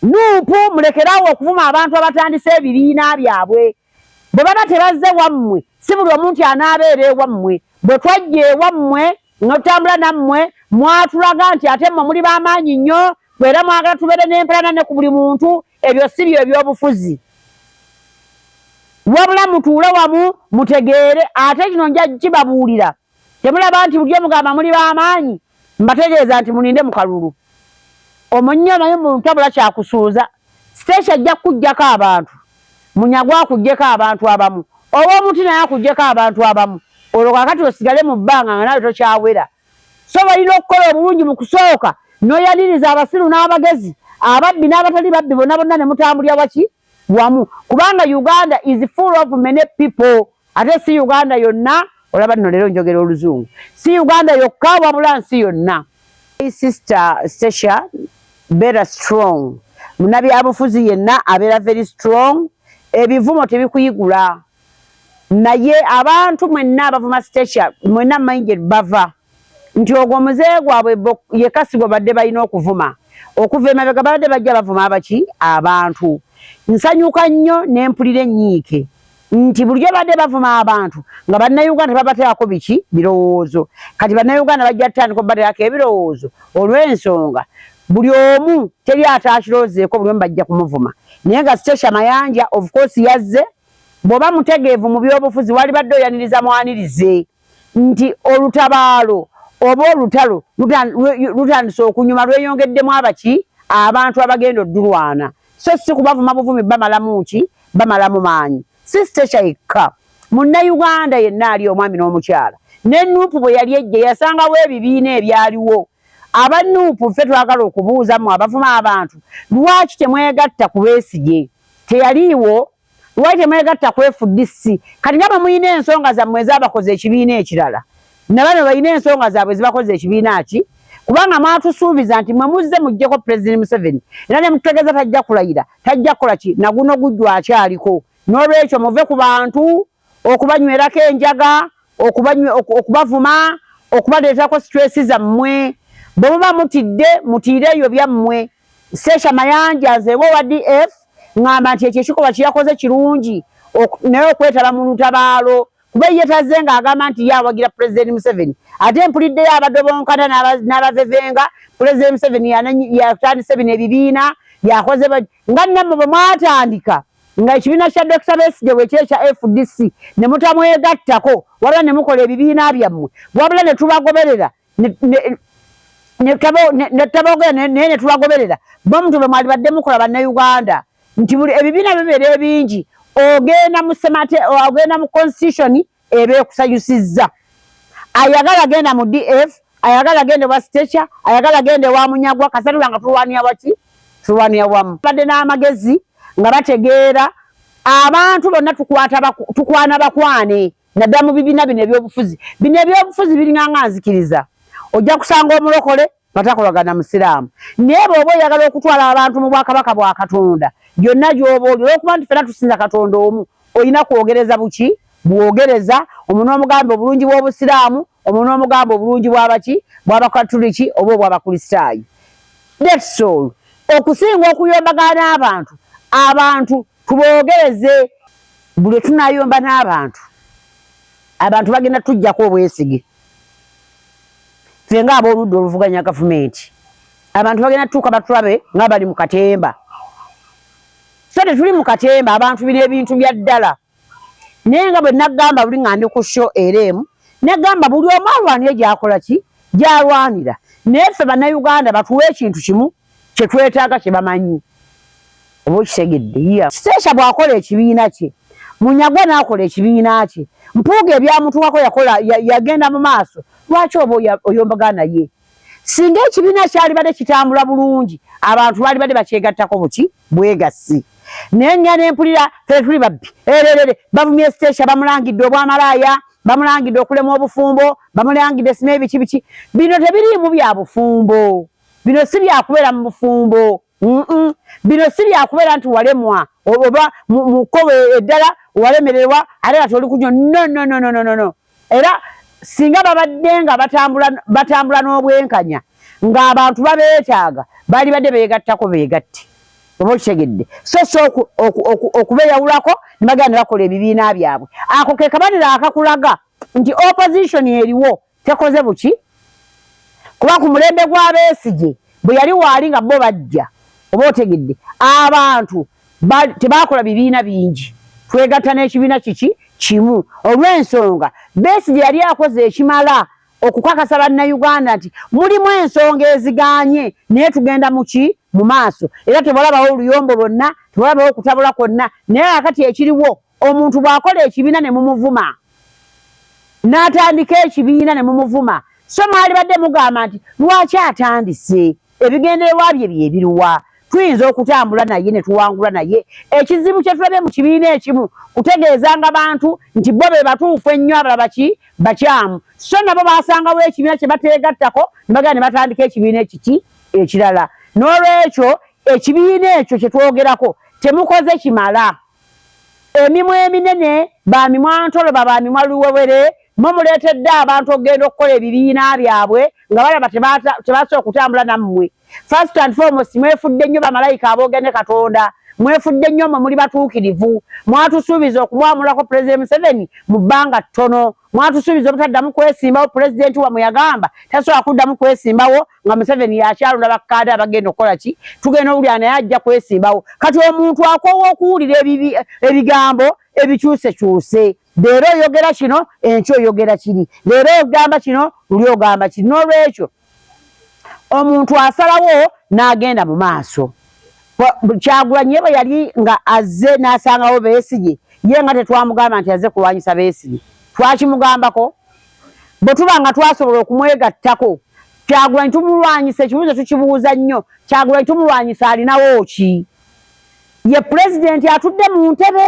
Nup mulekerawo okuvuma abantu abatandise ebibiina byabwe. Bwe baba tebazze wammwe, si buli omu nti anaabeera ewammwe. Bwe twajja ewammwe notutambula nammwe, mwatulaga nti ate mmwe muli ba maanyi nnyo era mwagala tubeere n'empalana ne ku buli muntu. Ebyo si bye byobufuzi. Wabula mutuule wamu mutegeere. Ate kino nja kukibabuulira. temulaba nti bulijjo mugamba muli b'amaanyi mbategeeza nti mulinde mu kalulu omunyo naye mu ntabula kyakusuuza siteesha ajja kukuggyako abantu munyagwa akuggyeko abantu abamu oba omuti naye akuggyeko abantu abamu olwo kakati osigale mu bbanga nga nawe tokyawera so balina okukola obulungi mu kusooka noyaniriza abasiru n'abagezi ababbi n'abatali babbi bona bonna ne mutambulira waki wamu kubanga uganda is full of many people ate si uganda yonna olaba nno leero njogera oluzungu si uganda yokka wabula nsi yonna sister stacia better strong munabyabufuzi yenna abeera very strong ebivumo tebikuyigula naye abantu mwenna abavuma stacia mwenna mayinje bava nti ogwo muzeeyi gwabwe yekka si gwe badde balina okuvuma okuva emabega babadde bajja bavuma abaki abantu nsanyuka nnyo ne mpulira ennyiike nti bulijjo badde bavuma abantu nga bannayuganda tebabateerako biki birowoozo kati bannayuganda bajja tutandika obubateerako ebirowoozo olw'ensonga buli omu teri ataakiroozeeko buli omu bajja kumuvuma naye nga sitesha mayanja of course yazze bw'oba mutegeevu mu byobufuzi walibadde oyaniriza mwanirize nti olutabaalo oba olutalo lutandise okunyuma lweyongeddemu abaki abantu abagenda oddulwana so si kubavuma buvumi bamalamu ki bamalamu maanyi si stekya yekka munnayuganda yenna ali omwami n'omukyala ne nuupu bwe yali ejje yasangawo ebibiina ebyaliwo aba nuupu ffe twagala okubuuzamu abavuma abantu lwaki temwegatta ku besigye teyaliiwo lwaki temwegatta ku fdc kati nga bamulina ensonga zammwe ezabakoze ekibiina ekirala nabano balina ensonga zaabwe zibakoze ekibiina ki kubanga mwatusuubiza nti mwe muzze muggyeko pulezidenti museveni era ne mututegeeza tajja kulayira tajja kukola ki naguno gujju akyaliko n'olwekyo muve ku bantu okubanywerako enjaga okubavuma okubaleetako situesi zammwe bwe muba mutidde mutiire eyo byammwe Sesha Mayanja nzeewo owa DF ngamba nti ekyo ekikolwa kyeyakoze kirungi naye okwetaba mu lutabaalo kuba ye tazze ng'agamba nti ye awagira pulezidenti Museveni ate mpuliddeyo abadobonkana n'abavevenga pulezidenti Museveni yatandise bino ebibiina yakoze nga nammwe bwe mwatandika nga ekibiina kya Dokita Besigye bwe kyekya FDC ne mutamwegattako wabula ne mukola ebibiina byammwe wabula ne tubagoberera netabogera naye netubagoberera bomuntu bwe mwali badde mukola bannauganda nti buli ebibiina bibeera ebingi ogenda musemate ogenda mu constitution eba ekusayusizza ayagala genda mu df ayagala genda wa stecha ayagala genda ewa munyagwa kasatula nga tulwanira waki tulwanira wamu badde n'amagezi nga bategeera abantu bonna tukwana bakwane naddala mu bibiina bino ebyobufuzi bino ebyobufuzi biringanga nzikiriza ojja kusanga omulokole nga takolagana musiraamu naye bweoba oyagala okutwala abantu mu bwakabaka bwa katonda gyonna gyoba oli olwokuba nti fena tusinza katonda omu olina kwogereza buki bwogereza omuntu omugambe obulungi bw'obusiraamu Omwo n'omugamba obulungi bw'abaki? Bw'Abakatuliki oba obw'Abakristaayo. That's all. Okusinga okuyombagana n'abantu, abantu tuboogereze. Buli lwe tunaayomba n'abantu, abantu bagenda tujjako obwesige. Ffe nga ab'oludda oluvuganya gavumenti, abantu bagenda tutuuka batulabe nga bali mu katemba. Ffe tetuli mu katemba, abantu bino ebintu bya ddala. naye nga bwe nagamba buli nga ndi ku sho era emu negamba buli omu alwanire gyakola ki gyalwanira naye ffe bannayuganda batuwa ekintu kimu kye twetaaga kye bamanyi oba okitegedde ya siteesha bw'akola ekibiina kye munyagwa n'akola ekibiina kye mpuuga ebyamutuwako yakola yagenda mu maaso lwaki oba oyombagana ye singa ekibiina kyalibadde kitambula bulungi abantu balibadde bakyegattako buki bwegassi naye nya nempulira fetuli babbi ererere bavumye sitesha bamulangidde obwamalaaya bamulangidde okulema obufumbo bamulangidde sina ebiki biki bino tebiriimu bya bufumbo bino si byakubeera mu bufumbo bino si byakubeera nti walemwa oba mu kkobo eddala walemererwa ate nga toli kunyo nononononono era singa babadde nga batambula batambula n'obwenkanya ng'abantu babeetaaga baali badde beegattako beegatte oba okitegedde so si okubeyawulako ne bagenda ne bakola ebibiina byabwe ako ke kabanira akakulaga nti opposition eriwo tekoze buki kuba ku mulembe gw'abeesigye bwe yali waali nga bo bajja oba otegedde abantu tebaakola bibiina bingi twegatta n'ekibiina kiki kimu olw'ensonga besigye yali akoze ekimala okukakasa bannayuganda nti mulimu ensonga eziganye naye tugenda muki mu maaso era tebalabawo oluyombo lwonna tebalabawo okutabula kwonna naye akati ekiriwo omuntu bwakola ekibiina ne mumuvuma n'atandika ekibiina ne mumuvuma so mwalibadde mugamba nti lwaki atandise ebigendererwa bye byebiruwa tuyinza okutambula naye ne tuwangula naye ekizibu kye tulabye mu kibiina ekimu kutegeezanga bantu nti bo be batuufu ennyo abalaba ki bakyamu so nabo basangawo ekibiina kye bateegattako ne bagenda ne batandika ekibiina ekiki ekirala n'olwekyo ekibiina ekyo kye twogerako temukoze kimala Emimwa eminene, ba mimwa ntoloba, ba mimwa luwewere, mmwe muleetedde abantu okugenda okukola ebibiina byabwe nga balaba tebasobola kutambula nammwe. First and foremost, mwefudde nnyo bamalayika aboogera ne Katonda. Mwefudde nnyo mmwe muli batuukirivu. Mwatusuubiza okumwamulako Pulezidenti Museveni mu bbanga ttono. Mwatusuubiza obutaddamu kwesimbawo, pulezidenti wamwe yagamba tasobola kuddamu kwesimbawo nga Museveni yakyalonda bakkaade abagenda okukola ki? Tugenda owulira naye ajja kwesimbawo. Kati omuntu akoowa okuwulira ebigambo ebikyusekyuse. Leero oyogera kino, enkya oyogera kiri. Leero ogamba kino, luli ogamba kiri. N'olwekyo omuntu asalawo n'agenda mu maaso kyagulanyi ye bwe yali nga azze n'asangawo beesigye ye nga tetwamugamba nti azze kulwanyisa beesigye twakimugambako bwe tuba nga twasobola okumwegattako kyagulanyi tumulwanyisa ekibuuzo tukibuuza nnyo kyagulanyi tumulwanyisa alinawo ki ye pulezidenti atudde mu ntebe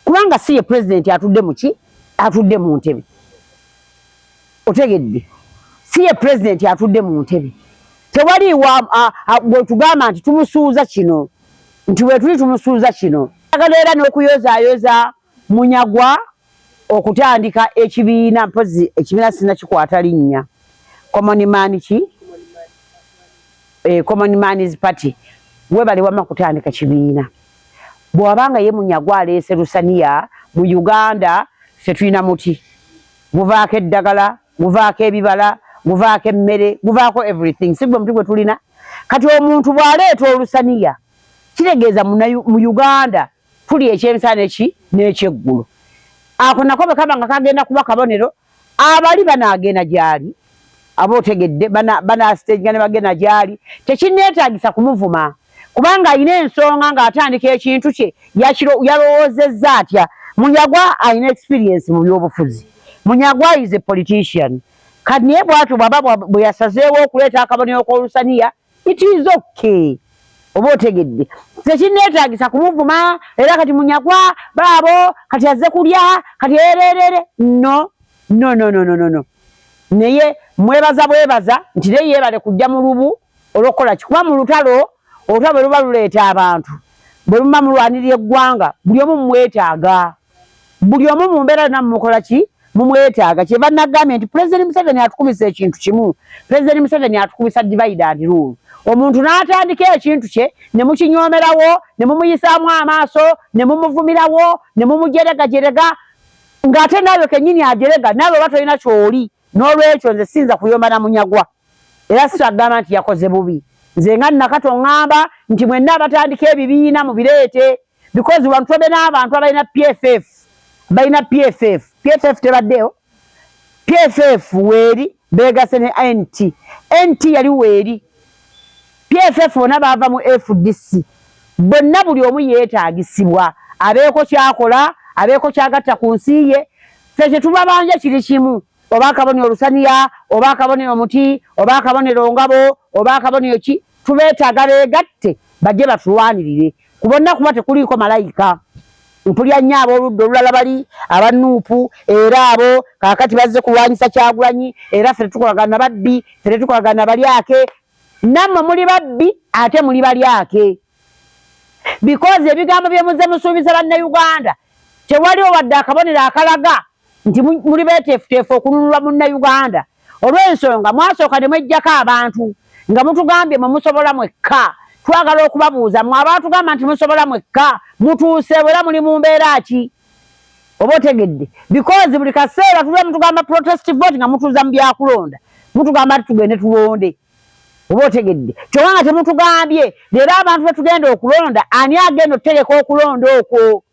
kubanga si ye pulezidenti atudde muki atudde mu ntebe otegedde si ye pulezidenti atudde mu ntebe tewaliiwo bwetugamba nti tumusuuza kino nti wetuli tumusuuza kino agala era n'okuyozaayoza munyagwa okutandika ekibiina mpozi ekibiina sinakikwata linnya common man ki eh, common man's party webale wama kutandika kibiina bwewabanga ye munyagwa aleese lusaniya mu Uganda ffe tulina muti guvaako eddagala guvaako ebibala guvaako emmere guvaako everything sigwe muti gwe tulina kati omuntu bwaleeta olusaniya kitegeeza mu Uganda tuli ekyemisana neki n'ekyeggulu ako nako bwekaba nga kagenda kuba kabonero abali banaagenda gyali aba otegedde banaasiteeginga ne bagenda gyali tekinneetaagisa kumuvuma kubanga alina ensonga ng'atandika ekintu kye yalowoozezza atya munyagwa alina experiensi mu byobufuzi munyagwa is a politician kati naye bwatyo bwaba bwe yasazeewo okuleeta akabonero k'olusaniya it is okay oba otegedde tekinneetaagisa kumuvuma era kati munyagwa baabo kati azze kulya kati ererere no no no no no no naye mwebaza bwebaza nti naye yeebale kujja mu lubu olwokukola ki kuba mu lutalo olutalo bwe luba luleeta abantu bwe luba mulwanira eggwanga buli omu mumwetaaga buli omu mu mbeera yonna mumukola ki mumwetaaga kyeva nagambye nti pulezidenti museveni atukubisa ekintu kimu pulezidenti museveni atukubisa divide and rule omuntu n'atandika ekintu kye ne mukinyoomerawo ne mumuyisaamu amaaso ne mumuvumirawo ne mumujeregajerega ng'ate naawe kennyini ajerega naawe oba tolina kyoli n'olwekyo nze siyinza kuyomba na munyagwa era sikyagamba nti yakoze bubi nze nga nnakato ŋŋamba nti mwenna abatandika ebibiina mubireete because wano tubadde n'abantu abalina pff balina pff pff tebaddeyo pff weeri beegase ne nt nt yali weeri pff bona baava mu fdc bonna buli omu yeetaagisibwa abeeko kyakola abeeko kyagatta ku nsi ye fe kyetubabanja kiri kimu oba akabonero olusaniya oba akabonero omuti oba akabonero ngabo oba akabonero ki tubeetaaga beegatte bajje batulwanirire ku bonna kuba tekuliiko malayika mpulya nnyo ab'oludda olulala bali abanuupu era abo kaakati bazze kulwanyisa kyagulanyi era ffe tetukolagana babbi ffe tetukolagana balyake nammwe muli babbi ate muli balyake bikozi ebigambo bye muzze musuubiza bannauganda tewaliwo wadde akabonero akalaga nti muli beeteefuteefu okununula munnayuganda olw'ensonga mwasooka ne mwejjako abantu nga mutugambye mwe musobola mwekka twagala okubabuuza mwe abaatugamba nti musobola mwekka mutuuseewo era muli mu mbeera ki oba otegedde bikozi buli kaseera tuba mutugamba protest vote nga mutuuza mu byakulonda mutugamba nti tugende tulonde oba otegedde kyoba nga temutugambye leero abantu betugenda okulonda ani agenda okutegeka okulonda okwo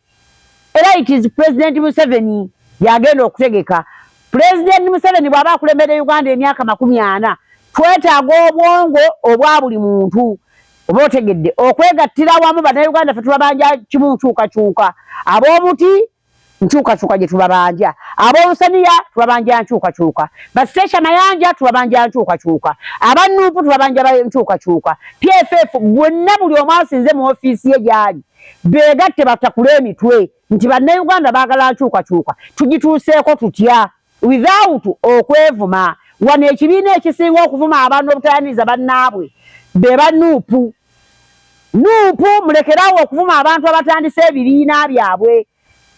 era it is president museveni yagenda okutegeka pulezidenti museveni bw'aba akulembedde uganda emyaka makumi ana twetaaga obwongo obwa buli muntu oba otegedde okwegattira awamu bannayuganda fe tubabanja kimu nkyukakyuka ab'omuti nkyukakyuka gye tubabanja ab'olusaniya tubabanja nkyukakyuka bastecia mayanja tubabanja nkyukakyuka abannuupu tubabanja nkyukakyuka pff bwenna buli omu asinze mu ofiisi ye gyali beegatte batakula emitwe nti bannayuganda baagala nkyukakyuka tugituuseeko tutya without okwevuma wano ekibiina ekisinga okuvuma abantu obutayaniriza bannaabwe be ba nuupu nuupu mulekerawo okuvuma abantu abatandise ebibiina byabwe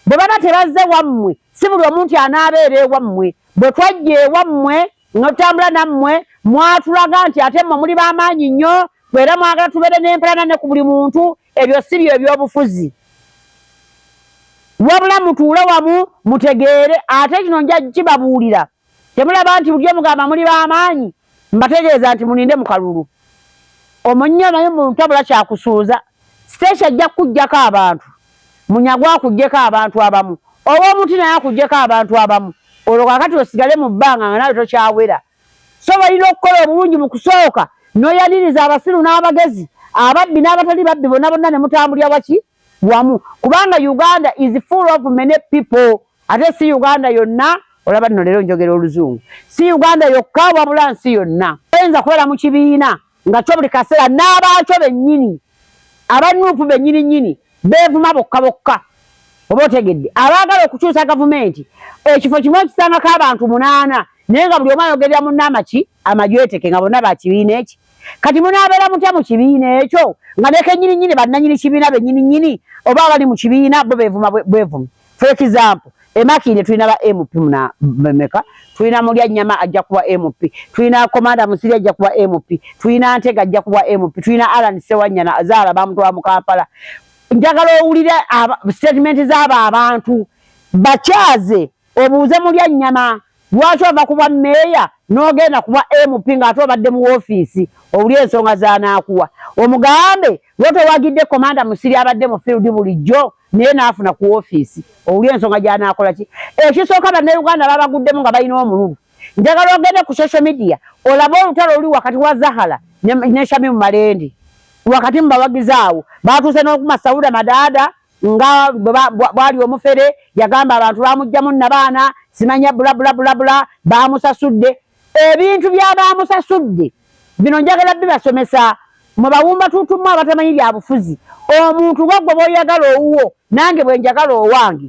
bwe baba tebazze wammwe si buli omu nti anaabeera ewammwe bwe twajja ewammwe nga tutambula nammwe mwatulaga nti ate mmwe muli b'amaanyi nnyo era mwagala tubeere n'empalana ne ku buli muntu ebyo si byo ebyobufuzi wabula mutuule wamu mutegeere ate kino nja kibabuulira temulaba nti bulyo mugamba muli b'amaanyi mbategeeza nti mulinde mu kalulu omunyo naye mutabula kyakusuuza siteesi ajja kukuggyako abantu munyagwa akugyeko abantu abamu oba omuti naye akugyeko abantu abamu olwo kakati osigale mu bbanga nga nawe tokyawera so balina okukola obulungi mu kusooka noyaniriza abasiru n'abagezi ababbi n'abatali babbi bonna bonna ne mutambulira waki wamu kubanga uganda is full of many people ate si uganda yonna olaba nno leero njogera oluzungu si uganda yokka wabula nsi yonna oyinza kubeera mu kibiina nga kyo buli kaseera n'abaakyo bennyini aba nuupu bennyini nnyini beevuma bokka bokka oba otegedde abaagala okukyusa gavumenti ekifo kimu ekisangako abantu munaana naye nga buli omu ayogerera munna amaki amajweteke nga bonna bakibiina eki kati munaabeera mutya mu kibiina ekyo nga nekennyini nnyini bannanyini kibiina bennyini nnyini oba abali mu kibiina bo beevuma bwevuma for example emakinde tulina ba mp muna meka tulina mulya nyama ajja kuba mp tulina komanda musiri ajja kuba mp tulina ntega ajja kuba mp tulina alan sewanyana azala bamutwa mukampala njagala owulira statement zaba abantu bakyaze obuuze mulya nyama Lwaki ova ku bwa meeya n'ogenda ku bwa MP nga ate obadde mu woofiisi owulire ensonga z'anaakuwa. Omugambe lwo towagidde Commander Musiri abadde mu field bulijjo naye n'afuna ku woofiisi owulire ensonga gy'anaakola ki? Ekisooka Bannayuganda babaguddemu nga balina omululu. Njagala ogende ku social media olabe olutalo oluli wakati wa Zahara ne Shamim Malende. Wakati mu bawagizi awo baatuuse n'okukuma Sauda Madaada. nga bwali omufere yagamba abantu bamugjamu nabaana simanya bulabulabulabula bamusasudde ebintu byabamusasudde bino njagala bibasomesa mwebawumba tutumu abatamanyi byabufuzi omuntu wagwe boyagala owuwo nange bwenjagala owange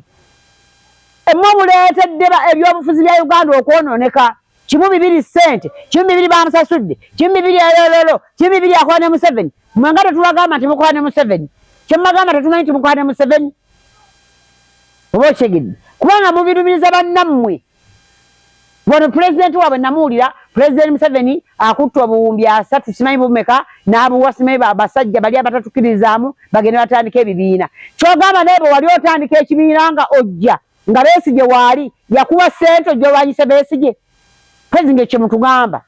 emwe buleetedde ebyobufuzi bya uganda okwononeka kimu bibiri sente kimu bibiri bamusasudde kimu bibiri elololo kimu bibiri akola ne museveni mwe nga tetubagamba nti mukola ne museveni kyemubagamba tetumanyi nti mukola ne museveni oba okitegedde kubanga mubirumiriza bannammwe wano pulezidenti waabwe namuwulira pulezidenti museveni akutte obuwumbi asatu simanyi bumeka n'abuwa simanyi basajja bali abatatukirizaamu bagende batandika ebibiina kyogamba naye bwe wali otandika ekibiina nga ojja nga Besigye waali yakuwa ssente ojolwanyise Besigye kwezi ngaekyo mutugamba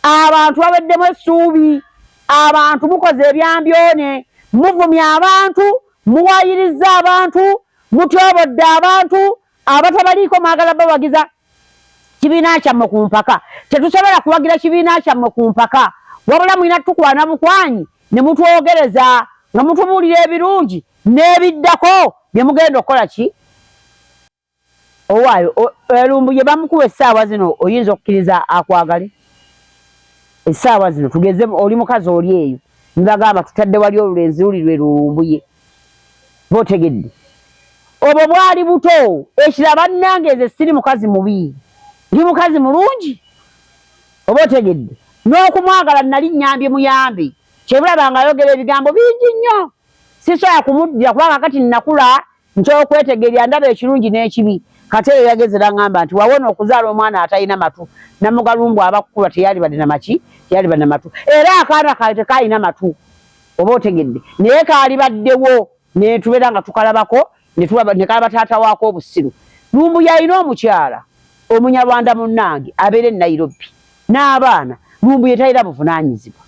abantu baweddemu essuubi abantu mukoze ebyambyone muvumya abantu muwayiriza abantu mutyobodde abantu abatabaliiko mwagala bawagiza kibiina kyammwe ku mpaka tetusobola kuwagira kibiina kyammwe ku mpaka wabula mulina tukwana bukwanyi ne mutwogereza nga mutubuulira ebirungi n'ebiddako bye mugenda okukola ki owaayo elumbu gye bamukuwa essaawa zino oyinza okukkiriza akwagale essaawa zino tugeze oli mukazi oli eyo nibagamba tutadde wali olulenzi luli lwe lulumbuye botegedde obwo bwali buto ekira bannange nze siri mukazi mubi ndi mukazi mulungi oba otegedde n'okumwagala nali nyambye muyambi kyebulaba nga ayogera ebigambo bingi nnyo sisobola kumuddira kubanga kati nakula nkyokwetegerya ndaba ekirungi n'ekibi kati eyo yageze nangamba nti wawona okuzaala omwana atalina matu namugalumbu abakukulwa teyalibade namaki teyalibade namatu era akaana kayo tekalina matu oba otegedde naye kaalibaddewo netubeera nga tukalabako nekalaba taata waako obusiru lumbuye alina omukyala omunyarwanda munnange abeera e nairobi n'abaana lumbuye talina buvunanyizibwa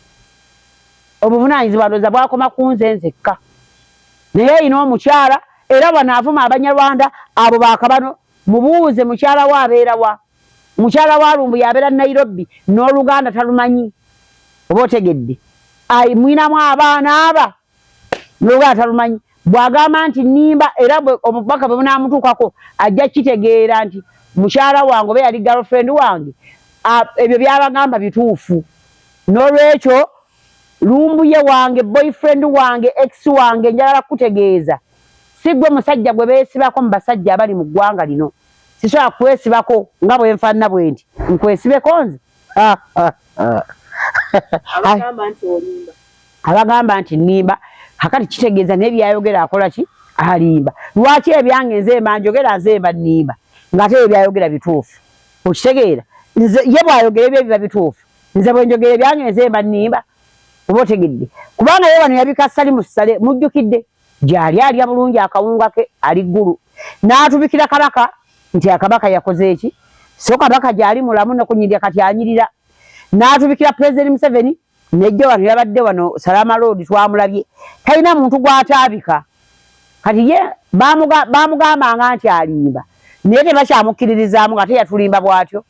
obuvunanyizibwa ndooza bwakoma ku nze nzekka naye alina omukyala era wano avuma abanyarwanda abo bakabano mubuuze mukyala we abeera wa mukyala wa lumbuye abeera nairobi n'oluganda talumanyi oba otegedde ayi mwinamu abaana aba n'oluganda talumanyi bw'agamba nti nimba era obubaka bwe bunaamutuukako ajja kitegeera nti mukyala wange oba yali girlfriend wange ebyo byabagamba bituufu n'olwekyo lumbuye wange boyfriend wange ex wange njagala kukutegeeza si gwe musajja gwe beesibako mu basajja abali mu ggwanga lino sisobola kwesibako nga bwenfanana bwendi nkwesibeko nze abagamba nti nimba akati kitegeeza naye byayogera akola ki alimba lwaki ebyange nze mba njogera nze mba nimba ngate ebyo byayogera bituufu okitegeera nze ye bwayogera ebyo biba bituufu nze bwenjogera ebyange nze mba nimba oba otegedde kubanga ye wano yabika sali musale mujjukidde gyali alya bulungi akawunga ke ali ggulu n'atubikira kabaka nti akabaka yakoze eki so kabaka gyali mulamu nokunyirira kati anyirira n'atubikira pulezidenti museveni nejja wano yabadde wano salama loodi twamulabye talina muntu gwataabika kati ye bamugambanga nti alimba naye tebakyamukkiririzaamu nga teyatulimba bwatyo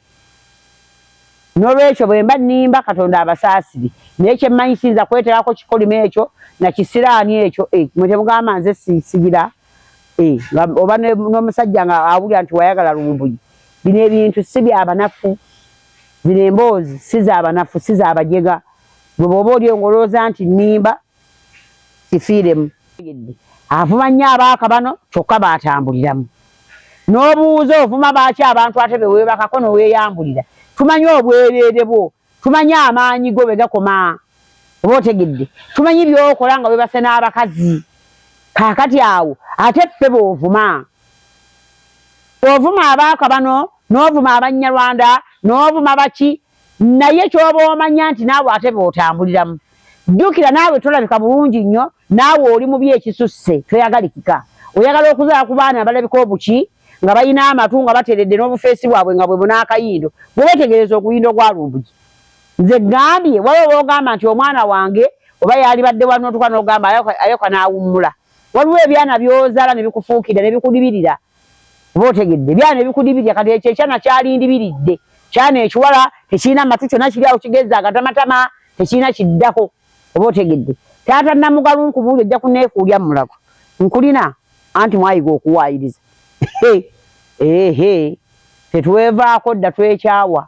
N'olwekyo bwe mba nnimba, Katonda abasaasire, naye kye mmanyi siyinza kweteekako kikolimo ekyo na kisiraani ekyo. Eh, mmwe temugamba nze sigira? Eh, oba n'omusajja nga awulira nti wayagala lumbuye. Bino ebintu si bya banafu, zino emboozi si za banafu, si za bajega. Gwe bw'oba oli engolooza nti nnimba, sifiiremu. Avuma nnyo abaaka bano kyokka baatambuliramu. N'obuuza ovuma baaki abantu ate be weebakako ne weeyambulira. Tumanyi obwereere bwo, tumanyi amaanyi go bwe gakoma. Oba otegedde? Tumanyi by'okola nga weebase n'abakazi. Kaakati awo ate ffe b'ovuma. Ovuma abaaka bano, n'ovuma Abannyalwanda, n'ovuma baki, naye kyoba omanya nti naawe ate beotambuliramu jjukira naawe tolabika bulungi nnyo naawe oli mubi ekisusse toyagalikika oyagala okuzala ku baana abalabika obuki nga balina amatu nga bateredde n'obufeesi bwabwe nga bwe bunaakayindo bwe betegereza oguyindo gwa lumbugi nze gambye waliwo boogamba nti omwana wange oba yalibadde wali notuka nogamba ayoka n'awummula waliwo ebyana byozala nebikufuukira nebikudibirira oba otegedde byana ebikudibirya kati ekyo ekyana kyalindibiridde kyana ekiwala tekirina matu kyona kiri awo kigeza agatamatama tekirina kiddako oba otegedde taata namugalu nkubuuli ojja kunekuulya mulago nkulina anti mwayiga okuwaayiriza ehe tetwevaako dda twekyawa